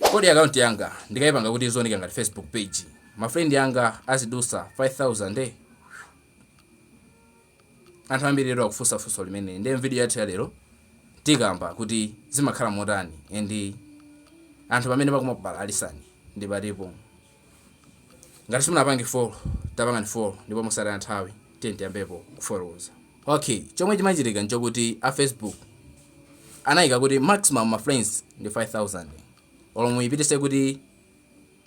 Kodi account yanga ndikaipanga kuti izioneka ngati Facebook page ma friend anga azidusa 5000? Anthu ambiri lero akufunsa funso limeneli ndiye m'video yathu ya lero tikamba kuti zimakhala motani and anthu pamene pakumakubalalisani ndi patipo. Ngati simunapange follow, tapangani follow ndipo mosataya nthawi tiye tiyambepo kufotokoza. Okay, chomwe chimachitika nchokuti a Facebook anayika kuti maximum ma friends ndi 5000 olo muyipitise kuti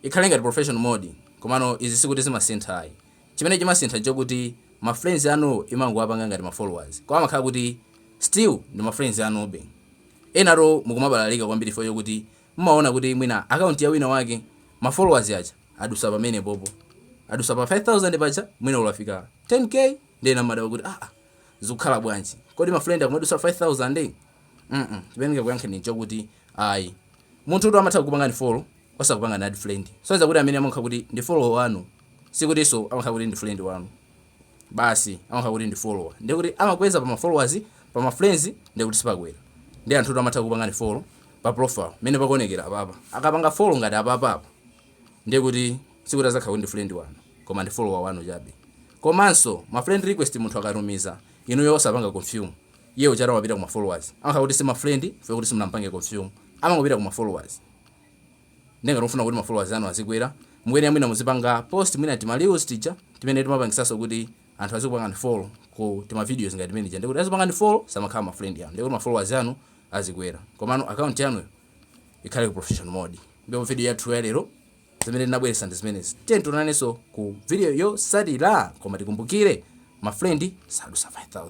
ikhale ngati professional mode komano izi sikuti zimasintha ayi chimene chimasintha nchokuti ma friends anu imangowapanga ngati ma followers koma amakhala kuti still ndi ma friends anube enanu mukumabalalika kwambiri chifukwa chokuti Mumaona kuti mwina account ya wina wake ma followers aja adusa pamenepopo, adusa pa 5000 paja mwina olo afika 10K nde ena mumadabwa kuti aah zikukhala bwanji kodi ma friend akumadusa 5000? mm chimene ndingakuyankheni nchokuti ayi munthutu amatha kukupangani follow osakupangani add friend, sonyeza kuti amene amakhala kuti ndi follower wanu sikutinso amakhala kuti ndi friend wanu. basi amakhala kuti ndi follower ndiye kuti amakweza pa ma followers pa ma friends ndiye kuti sipakwera ndiye anthu amatha kupangani follow pa profile mene pakuonekera apapa akapanga follow ngati apapa apa ndiye kuti sikuti azakhala ndi friend wanu koma ndi follower wanu chabe komanso ma friend request munthu akatumiza inuyo osapanga confirm iye uja wapita ku ma followers amakhala kuti si ma friend chifukwa chokuti simunampange confirm amangopita ku ma followers Nde ngati mufuna kuti ma followers anu azikwera mukuyenera mwina muzipanga post mwina tima reels tija timene timapangisaso kuti anthu azikupangani follow ku tima videos ngati timene tija ndekuti azipangani follow samakhala ma friend anu ndekuti ma followers anu azikwera komano account yanuyo ikhale ku professional mode ndipo video yathu ya lero zimene tinabweretsa ndi zimenezi tiye tionanenso ku video yosatira koma tikumbukire ma friend sadusa 5000